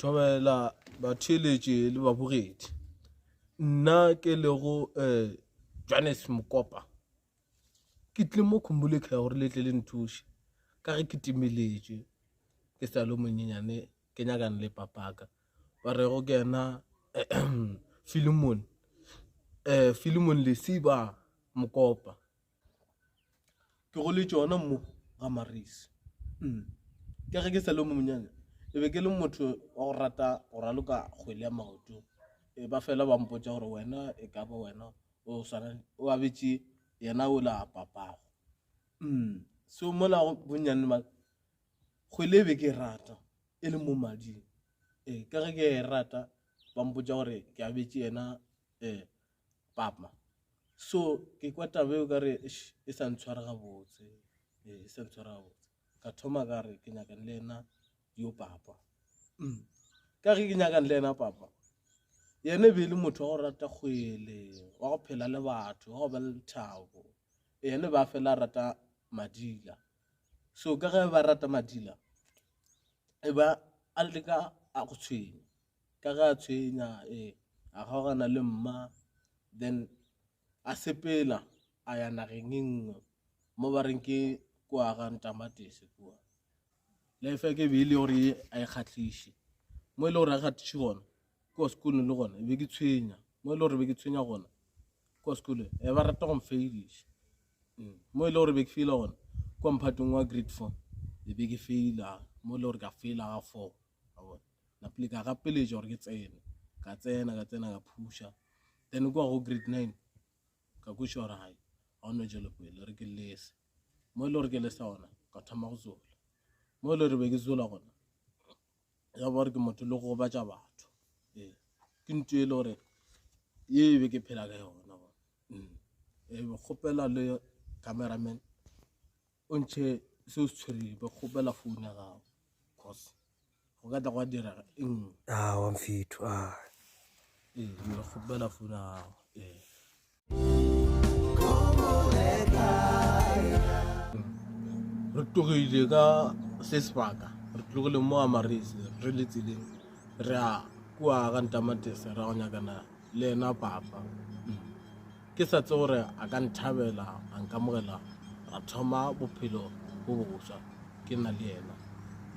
thobela batheeletše le babogedi nna ke lego um johannes mokopa ke tlile mo khumbulekga gore le tle le nthuše ka ge ke timeletše ke sa le monyenyane ke nyakane le papaka ba rego ke yena filimon um filimon lesiba mokopa ke go le tšona mo ga marisi mm. ka ge ke sa le mo monyane e be ke le motho wa go rata go raloka kgwele ya maoto e ba fela ba mpotsa gore wena e ka ba wena o swana o abetše yena o la papago mm. so mola bonnyane ba kgwele e be ke e rata e le mo mading ee ka ge ke e rata ba mpotsa gore ke abetše yena um papa so ke kwa tabe o kare e sa ntshwara gabotse eh, e sa ntshwara gabotse ka thoma ka re ke nyakane le ena yo papa mm. ka ge ke nyakane le ena papa yena e be e le motho wa go rata kgwele wa go phela le batho wa go ba le lethabo yena e ba fela rata madila so ka ge ba rata madila e ba a leka a go tshwenya ka ge a tshwenya ee a kgaogana le mma then a sepela a ya nageng e nngwe mo ba reng ke kwa ga ntamatese kua life ya ke be e le gore a e kgatlhiše mo e le gore a kgatlhiše gona kwa sekolong le gona e be ke tshwenya mo e le gore be ke tshwenya gona kwa sekolong e ba rata go mfailiša mm. mo e le gore be ke faila gona kwa mphatong wa grade four e be ke faila mo e le gore ka faila ga four Napile ka gapeletša gore ke tsene ka tsena ka tsena ka phusha then kwa go grade nine ka kweša gore gae ga one jelo pele re ke lese mo e le gore ke lesa gona ka thoma go zola mo e le gore be ke zola gona ya ba gore ke motho le go gobatša batho ee ke nto e le gore ye e be ke phela ka yona gona mm. e be kgopela le cameraman o ntšhe se o se tshwereng ba kgopela founu ya gago cause go ka tla go a dira e nngwe a ah, wa mfetho a ah. ee ba kgopela founu ya gago ee re tlogile ka se sebaka re tlogile mo amarese re le tseleng re a kua ka ntamatese ra go nyakana le ena papa Ke sa tse gore a ka nthabela, a nkamogela, ra thoma bophelo bo boswa ke na le yena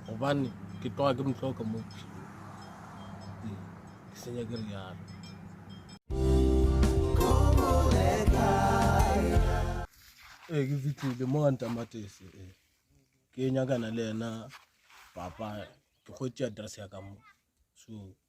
gobane ke tloga ke motloka mo bophelong ee, ke senya ke rialo ee ke fitlhile mo ga ntamatese ee ke nyakana le yena papa ke kgwetse address ya ka mo so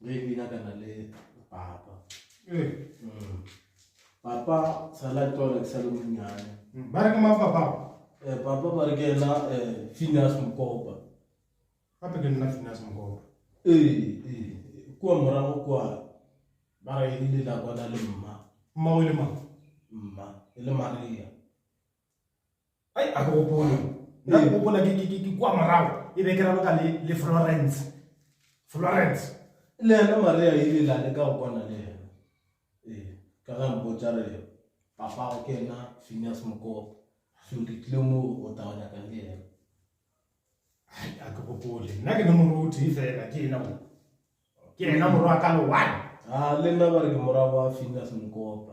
Re bina kana le papa. Eh. Mm. Papa sala tlola ke sale monyane. Mm. Ba re ke mang papa? Eh papa ba re ke ena eh Phineas Mkopa. Gape ke nna Phineas Mkopa. Eh eh kwa morago kwa ba re ile la kwana le mma. Mma o le mang? Mma e le Maria. ai a ke gopole nna ke gopola ke kua morago e be ke raloka le florence florence le ena maria e le lale ka go kwana le ena ee ka ga mpotsa re papago ke ena phineas mokopa so ke tlile mo go taonyaka le ena ai a ke gopole nna ke le moruti fela ke ena mo ke ena morwa ka le one a le nna ba re ke morago wa phineas mokopa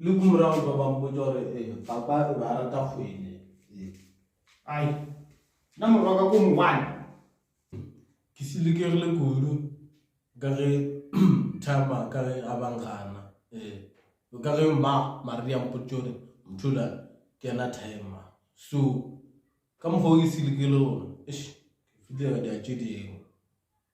Le ku morago ba ba mpotša gore eh, papa o be a rata kgwele. Eh. Ai, na morwa ka ko mongwane. Ke silikegile kudu ka ge Thama ka ge a bangana. Eh. Ka ge mma Maria mpotša gore Mthula ke yena Thama. So, ka mokgwa o ke silikegile gona, eish, ke fitlhega di a tše dingwe.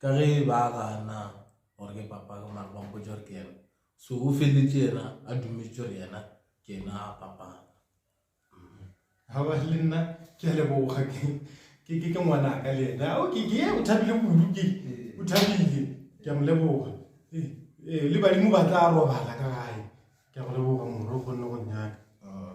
ka ge ba gana gore ke papa ka mare ba mpotsa gore ke yena so o feletse yena a dumetše gore yena ke yena a papa ga ba le nna ke a leboga ke ke ke ngwana ka le ena o ke ke o thabile kudu ke o thabile ke a mo leboga ee, ee, le badimo ba tla robala ka gae ke a go leboga moro o kgonne go nyaka ah,